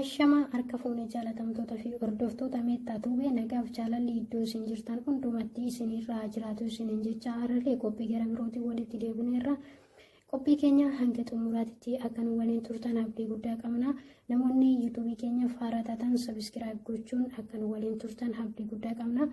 Ashamaa harka fuunee jaalatamtoota fi hordoftoota meettaa tuubee nagaaf jaalalli iddoo isin jirtan hundumatti isin irraa jiraatu isiniin jecha har'allee qophii gara birootiin walitti deebineerra. Qophii keenya hanga xumuraatitti akka nu waliin turtan abdii guddaa qabna. Namoonni yuutuubii keenya faaraa taatan sabiskiraayib gochuun akka nu waliin turtan abdii guddaa qabna.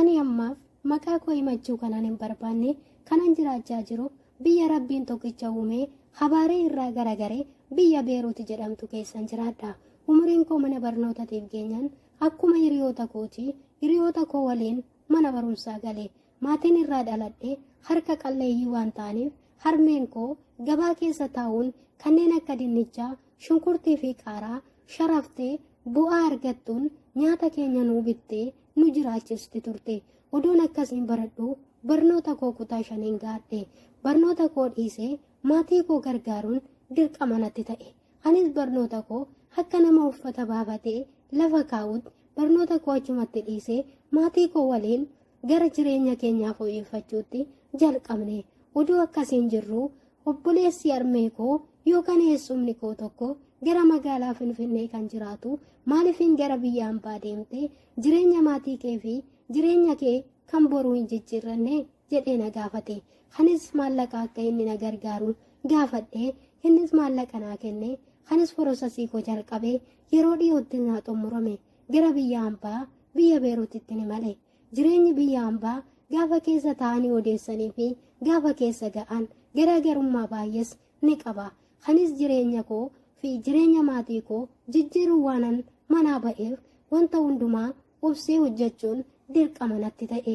Ani ammaaf maqaa koo himachuu kanan hin barbaanne kanan jiraachaa jiru biyya Rabbiin tokkicha uumee habaaree irraa garagare biyya Beeruuti jedhamtu keessan jiraadha. Umuriin koo mana barnootatiif geenyaan akkuma hiriyoota kooti hiriyoota koo waliin mana barumsaa gale. Maatiin irraa dhaladhe harka qalleeyyii waan ta'aniif harmeen koo gabaa keessa taa'uun kanneen akka dinnichaa, shunkurtii fi qaaraa sharaftee bu'aa argattuun nyaata keenya nuu bittee nu jiraachisti turte. Odoon akkasiin baradhu barnoota koo kutaa shaniin gaadhe. Barnoota koo dhiisee maatii koo gargaaruun dirqama natti ta'e. Anis barnoota koo akka nama uffata baafatee lafa kaa'utti barnoota koo achumatti dhiisee maatii koo waliin gara jireenya keenyaa fooyyeffachuutti jalqabne oduu akkasiin jirru obboleessi armee koo yookaan eessumni koo tokko gara magaalaa finfinnee kan jiraatu maaliifin gara biyya ambaa deemte jireenya maatii kee fi jireenya kee kan boruu hin jijjiirranne jedhee na gaafate kanis maallaqa akka inni na gargaaru gaafadhe innis maallaqa naa kenne kanis porosasii koo jalqabe yeroo dhiyootti naa xumurame gara biyya hambaa biyya beeruutitti ni male jireenyi biyya hambaa gaafa keessa taa'anii odeessanii fi gaafa keessa ga'an garaagarummaa baay'ees ni qaba kanis jireenya koo fi jireenya maatii koo jijjiiruu waanan manaa ba'eef wanta hundumaa obsee hojjechuun dirqama natti ta'e.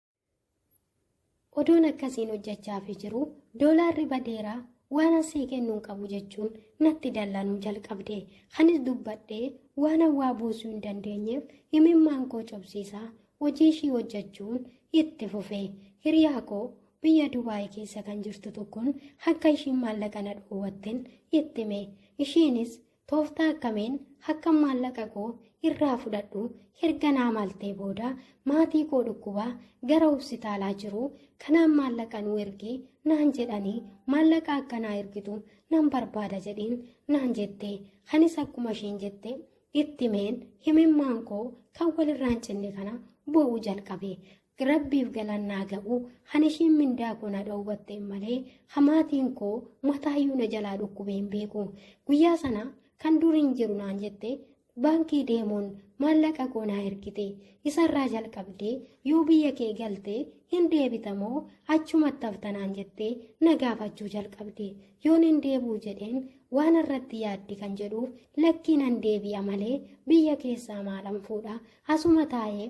Odoon akkasiin hojjechaafii jiru doolaarri badeera waan asii kennuun qabu jechuun natti dallanuu jalqabde. Kanis dubbadhee waan hawaa buusuu hin dandeenyeef himimmaan koo cobsiisaa hojii ishii hojjechuun itti fufe. Hiriyaa koo biyya Dubaay keessa kan jirtu tokkoon akka ishiin maallaqa na dhoowwatten itti hime. Ishiinis Tooftaa akkamiin hakkan maallaqa koo irraa fudhadhu erga naa maltee booda maatii koo dhukkubaa gara hospitaalaa jiru kanaan maallaqa nuu ergi naan jedhanii maallaqa akka naa ergitu nan barbaada jedhiin naan jette kanis akkuma isheen jette itti meen himimmaan koo kan walirraan cinne kana boo'uu jalqabe Rabbiif galaan naa ga'u han ishiin mindaa koo na dhowwatte malee hamaatiin koo mataayyuu na jalaa dhukkubee hin beeku. Guyyaa sana kan dur hin jiru naan jette baankii deemuun maallaqa koo naa ergite. Isarraa jalqabdee yoo biyya kee galte hin deebita moo achumatti hafta naan jettee na gaafachuu jalqabde. Yoon hin deebi'u jedheen waan irratti yaaddi kan jedhuuf lakkii nan deebi'a malee biyya keessaa maalan fuudha asuma taa'ee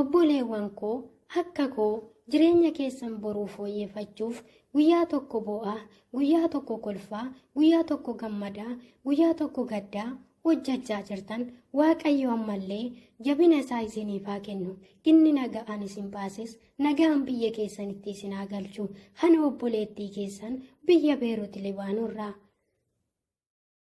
Obboleewwan koo akka koo jireenya keessan boruu fooyyeffachuuf guyyaa tokko boo'aa, guyyaa tokko kolfaa, guyyaa tokko gammadaa, guyyaa tokko gaddaa hojjechaa jirtan Waaqayyo ammallee jabina isaa isiniif haa kennu. Inni nagaan isin baases nagaan biyya keessanitti isin haa galchu. Kana obboleettii keessan biyya Beerut Libaanorraa.